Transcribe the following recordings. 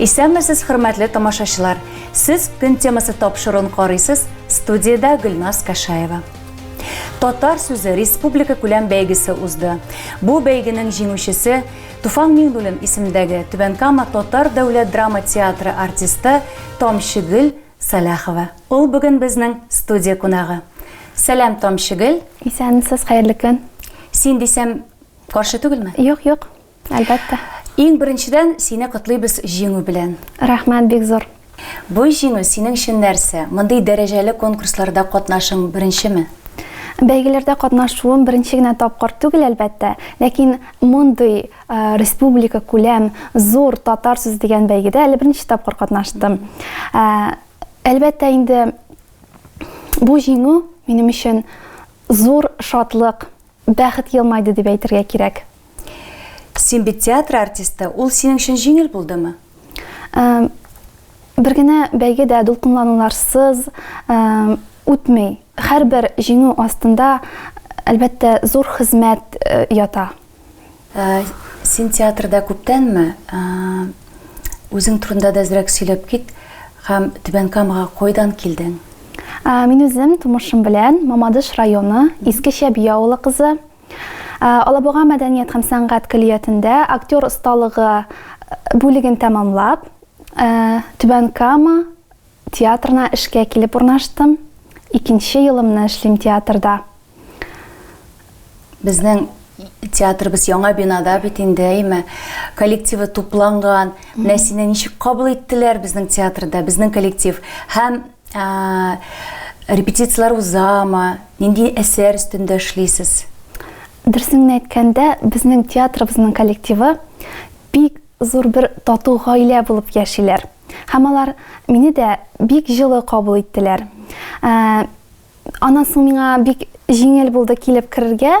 Исәнмесез, хөрмәтле тамашачылар! Сез көн темасы тапшыруын карыйсыз, студиядә Гөлназ Кашаева. Татар сүзе республика күләм бәйгесе узды. Бу бәйгенең җиңүчесе Туфан Миңнуллин исемендәге Түбән Кама татар дәүләт драма театры артисты Тамчыгөл Сәлахова. Ул бүген безнең студия кунагы. Сәлам, Тамчыгөл! Исәнмесез, хәерле көн! Син дисәм, каршы түгелме? Юк, юк. Әлбәттә. Иң беренчедән, сине котлыйбыз җиңү белән. Рәхмәт бик зур. Бу җиңү синең өчен нәрсә? Мондый дәрәҗәле конкурсларда катнашың беренчеме? Бәйгеләрдә катнашуым беренче генә тапкыр түгел, әлбәттә. Ләкин мондый республика күләм зур татар сүзе дигән бәйгедә әле беренче тапкыр катнаштым. Әлбәттә инде бу җиңү минем өчен зур шатлык, Бәхет елмайды дип әйтергә кирәк. Син бит театр артисты, ул синең өчен җиңел булдымы? Бер генә бәйге дә дулкынлануларсыз үтми. Һәрбер җиңү астында, әлбәттә, зур хезмәт ята. Ә син театрда күптәнме? Ә, үзең турында да әзрәк сөйләп кит һәм Түбән Камага кайдан килдең? Ә, мин үзем тумышым белән Мамадыш районы Иске Чәби авылы кызы. Ә, Алабуга мәдәният һәм сәнгать көллиятендә актер осталыгы бүлеген тәмамлап, ә, Түбән Кама, Театрына эшкә килеп урнаштым. Икенче елымны эшлим театрда. Безнең театрыбыз яңа бинада бит инде, әйме? Коллективы тупланган. Менә сине ничек кабул иттеләр безнең театрда, безнең коллектив? Һәм репетицияләр узамы? Нинди әсәр өстендә эшлисез? Дөресен әйткәндә, безнең театрыбызның коллективы бик зур бер тату гаилә булып яшиләр. Һәм алар мине дә бик җылы кабул иттеләр. Ә, аннан соң миңа бик җиңел булды килеп керергә,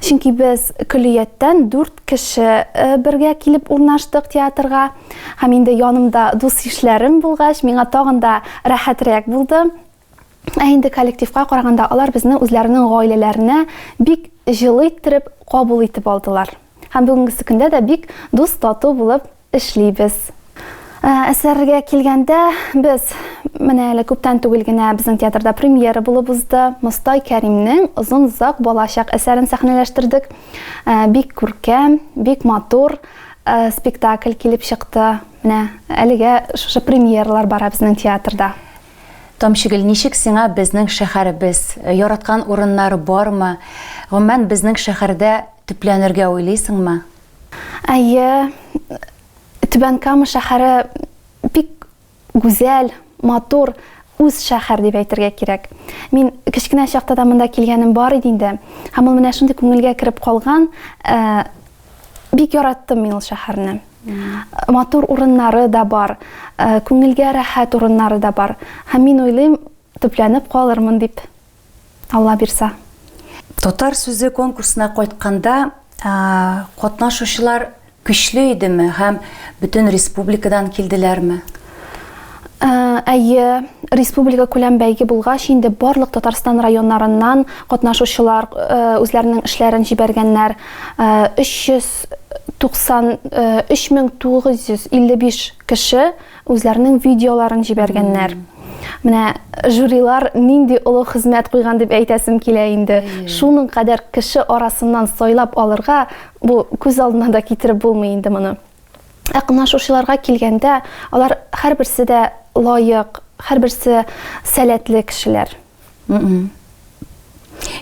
чөнки без көллияттән дүрт кеше э, бергә килеп урнаштык театрга. Һәм инде янымда дус ишләрем булгач, миңа тагын да рәхәтрәк булды. Ә инде коллективка караганда алар безне үзләренең гаиләләренә бик җылы иттереп кабул итеп алдылар. Һәм бүгенгесе көндә дә бик дус тату булып эшлибез. Ә, әсәргә килгәндә, без менә әле күптән түгел генә безнең театрда премьера булып узды. Мостай Кәримнең Озын зак балачак әсәрен сәхнәләштердек. Ә, бик күркәм, бик матур ә, спектакль килеп чыкты. Менә әлегә шушы премьералар бара безнең театрда. Тамчыгөл, ничек сиңа безнең шәхәребез? Яраткан урыннары бармы? Гомумән, безнең шәхәрдә төпләнергә уйлыйсыңмы? Әйе, Түбән Кама шәхәре бик гүзәл, матур, үз шәхәр дип әйтергә кирәк. Мин кечкенә чакта да монда килгәнем бар иде инде. Һәм ул менә шундый күңелгә кереп калган, бик яраттым мин ул шәхәрне. Матур урыннары да бар, күңелгә рәхәт урыннары да бар. Һәм мин уйлыйм, төпләнеп калырмын дип, Алла бирса. Татар сүзе конкурсына кайтканда, катнашучылар көчле идеме һәм бөтен республикадан килделәрме? Ә, әйе, республика күләм бәйге булгач, инде барлык Татарстан районнарыннан катнашучылар э, үзләренең эшләрен җибәргәннәр. 3955 э, кеше үзләренең видеоларын җибәргәннәр. Менә жюрилар нинди олы хезмәт куйган дип әйтәсем килә инде. Шуның кадәр кеше арасыннан сайлап алырга, бу күз алдына да китереп булмый инде моны. Ә кнашучыларга килгәндә, алар һәрберсе дә лаек, һәрберсе сәләтле кешеләр.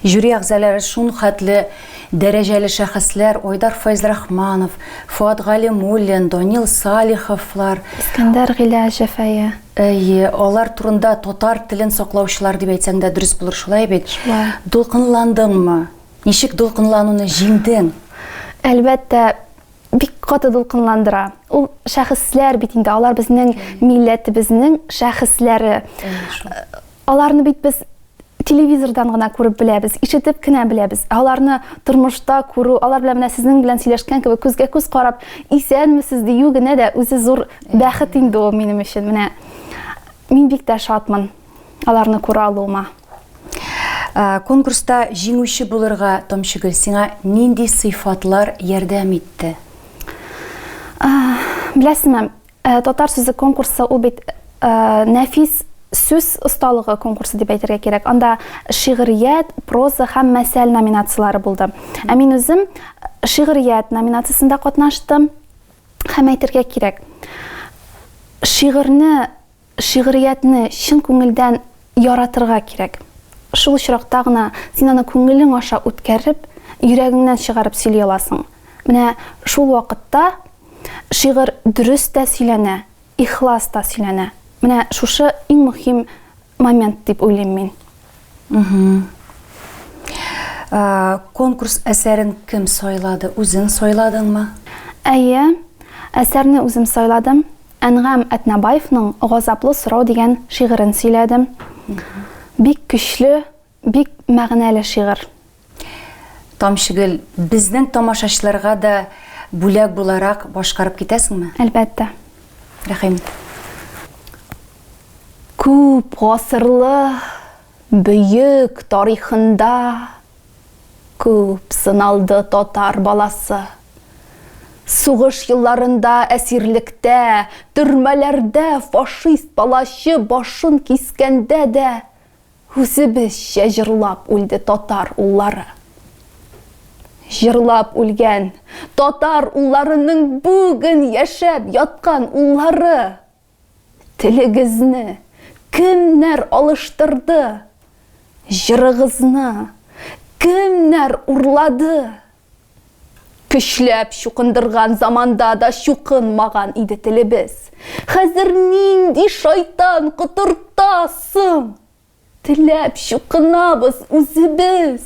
Жюри әгъзалары шун хәтле дәрәҗәле шәхесләр, Айдар Файзрахманов, Фуат Галимуллин, Данил Салиховлар. Искәндәр Гыйләҗев, әйе. Әйе, алар турында татар телен саклаучылар дип әйтсәң дә дөрес булыр, шулай бит? Шулай. Дулкынландыңмы? Ничек дулкынлануны җиңдең? Әлбәттә, бик каты дулкынландыра. Ул шәхесләр бит инде, алар безнең милләтебезнең шәхесләре. Аларны бит без телевизордан гына күреп беләбез, ишетеп кенә беләбез. Аларны тормышта күрү, алар белән менә сезнең белән сөйләшкән кебек күзгә күз карап, исәнмесез дию генә дә үзе зур бәхет инде ул минем өчен. Менә мин бик тә шатмын. аларны күрә алуыма. Э, конкурста җиңүче булырга Томчыгөл сиңа нинди сыйфатлар ярдәм итте? Э, Беләсезме, э, татар сүзе конкурсы ул бит нәфис сүз осталыгы конкурсы дип әйтергә кирәк. Анда шигърият, проза һәм мәсәл номинацияләре булды. Ә мин үзем шигърият номинациясендә катнаштым һәм әйтергә кирәк. Шигырьне Шигъриятне чын күңелдән яратырга кирәк. Шул очракта гына син аны күңелең аша үткәреп, йөрәгеңнән чыгарып сөйли аласың. Менә шул вакытта шигырь дөрес тә сөйләнә, ихлас та сөйләнә. Менә шушы иң мөһим момент дип уйлыйм мин. Конкурс әсәрен кем сайлады? Үзең сайладыңмы? Әйе, әсәрне үзем сайладым. Әнгам Әтнәбаевның Газаплы сорау дигән шигырен сөйләдем. Бик көчле, бик мәгънәле шигырь. Тамчыгөл, безнең тамашачыларга да бүләк буларак башкарып китәсеңме? Әлбәттә. Рәхим. Күп гасырлы бөек тарихында күп сыналды татар баласы. Сугыш елларында әсирлектә, төрмәләрдә фашист палачы башын кискәндә дә Үзебезчә җырлап үлде татар уллары. Җырлап үлгән татар улларының бүген яшәп яткан уллары! Телегезне кемнәр алыштырды? Җырыгызны кемнәр урлады? Көчләп чукындырган заманда да чукынмаган иде телебез. Хәзер нинди шайтан котырта соң? Теләп чукынабыз үзебез.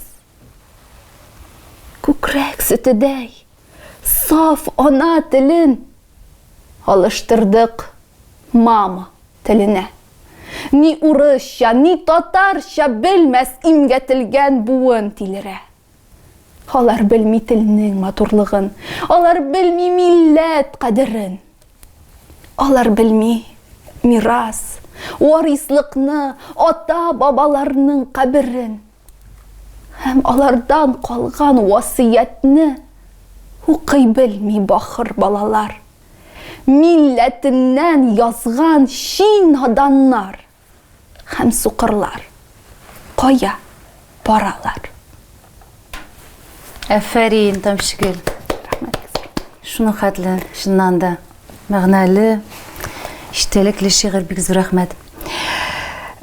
Күкрәк сөтедәй, саф ана телен алыштырдык мама теленә. Ни урысча, ни татарча белмәс имгәтелгән буын тилерә. Алар белми телнең матурлыгын, алар белми милләт кадерен. Алар белми мирас, варислыкны, ата-бабаларның каберен. Һәм алардан калган васыятьне укый белми бахыр балалар. Милләтеннән язган чи наданнар. Һәм сукырлар кая баралар? Әфәрин, Тамчыгөл. Шуның хәтле, чыннан да, мәгънәле, иштәлекле шигырь бик зур рәхмәт.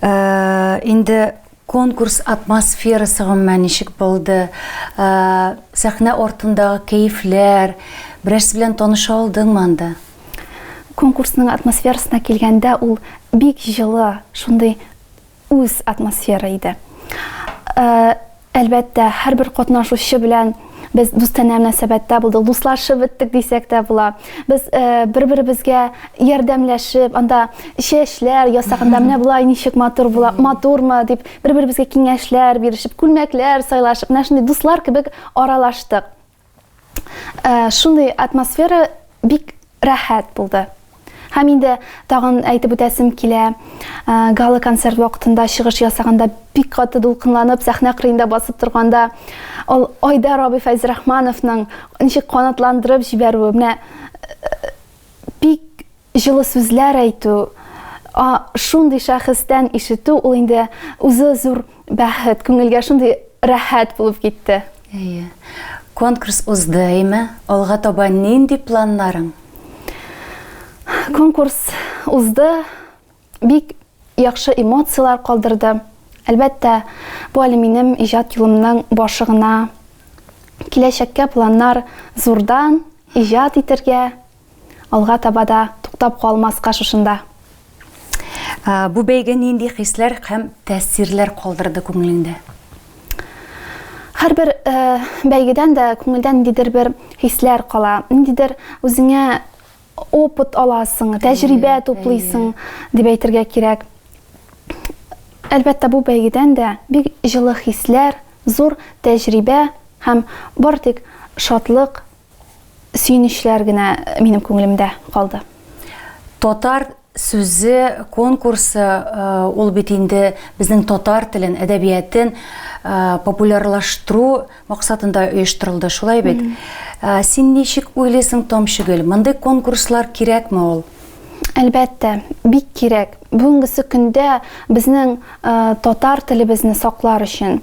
Э, инде конкурс атмосферасы гомумән ничек булды? Э, сәхнә артындагы кәефләр, берәрсе белән таныша алдыңмы анда? Конкурсның атмосферасына килгәндә, ул бик җылы, шундый үз атмосфера иде. Әлбәттә, һәрбер катнашучы белән без дустанә мөнәсәбәттә булдык, дуслашып беттек дисәк тә була. Без бер-беребезгә ярдәмләшеп, анда чәчләр ясаганда менә болай ничек матур була, матурмы дип, бер-беребезгә киңәшләр бирешеп, күлмәкләр сайлашып, менә шундый дуслар кебек аралаштык. Ә, шундый атмосфера бик рәхәт булды. Һәм инде тагын әйтеп үтәсем килә, ә, гала концерт вакытында чыгыш ясаганда бик каты дулкынланып сәхнә кырыенда басып торганда ул Айдар абый Фәйзрахмановның ничек канатландырып җибәрүе, менә Бик җылы сүзләр әйтү, а шундый шәхестән ишетү ул инде үзе зур бәхет, күңелгә шундый рәхәт булып китте. Әйе. Конкурс узды, әйме? Алга таба нинди планнарың? Конкурс узды. Бик яхшы эмоцияләр калдырды. Әлбәттә, бу әле минем иҗат юлымның башы гына. Киләчәккә планнар зурдан, иҗат итәргә, алга таба да туктап калмаска шушында. Бу бәйге нинди хисләр һәм тәэсирләр калдырды күңелеңдә? Һәрбер бәйгедән дә күңелдә ниндидер бер хисләр кала, ниндидер үзеңә опыт аласың, тәҗрибә туплыйсың дип әйтергә кирәк. Әлбәттә, бу бәйгедән дә бик җылы хисләр, зур тәҗрибә һәм бар тик шатлык, сөенечләр генә минем күңелемдә калды. Татар Сүзе, конкурсы, ул бит инде безнең татар телен, әдәбиятен популярлаштыру максатында оештырылды, шулай бит? Син ничек уйлыйсың, Тамчыгөл, мондый конкурслар кирәкме ул? Әлбәттә, бик кирәк. Бүгенгесе көндә безнең татар телебезне саклар өчен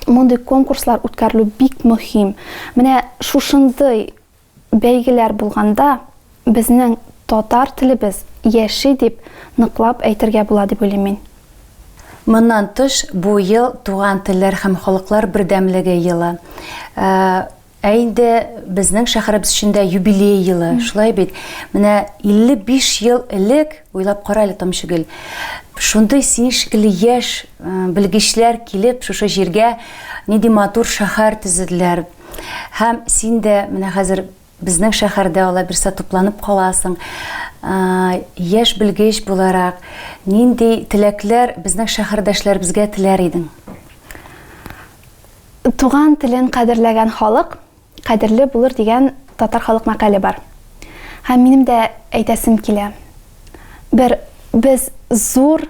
мондый конкурслар үткәрелү бик мөһим. Менә шушындый Бәйгеләр булганда, безнең татар телебез яши дип ныклап әйтергә була дип уйлыйм мин. Моннан тыш, бу ел Туган телләр һәм халыклар бердәмлеге елы. Ә инде безнең шәһәребез өчен дә юбилей елы, шулай бит? Менә 55 ел элек, уйлап кара әле, Тамчыгөл, шундый син шикелле яшь белгечләр килеп, шушы җиргә нинди матур шәһәр төзеделәр, Һәм син дә менә хәзер безнең шәһәрдә алай берсә тупланып каласың. Яшь белгеч буларак, нинди теләкләр безнең шәһәрдәшләребезгә теләр идең? Туган телен кадерләгән халык кадерле булыр дигән татар халык мәкале бар. Һәм минем дә әйтәсем килә. Бер без зур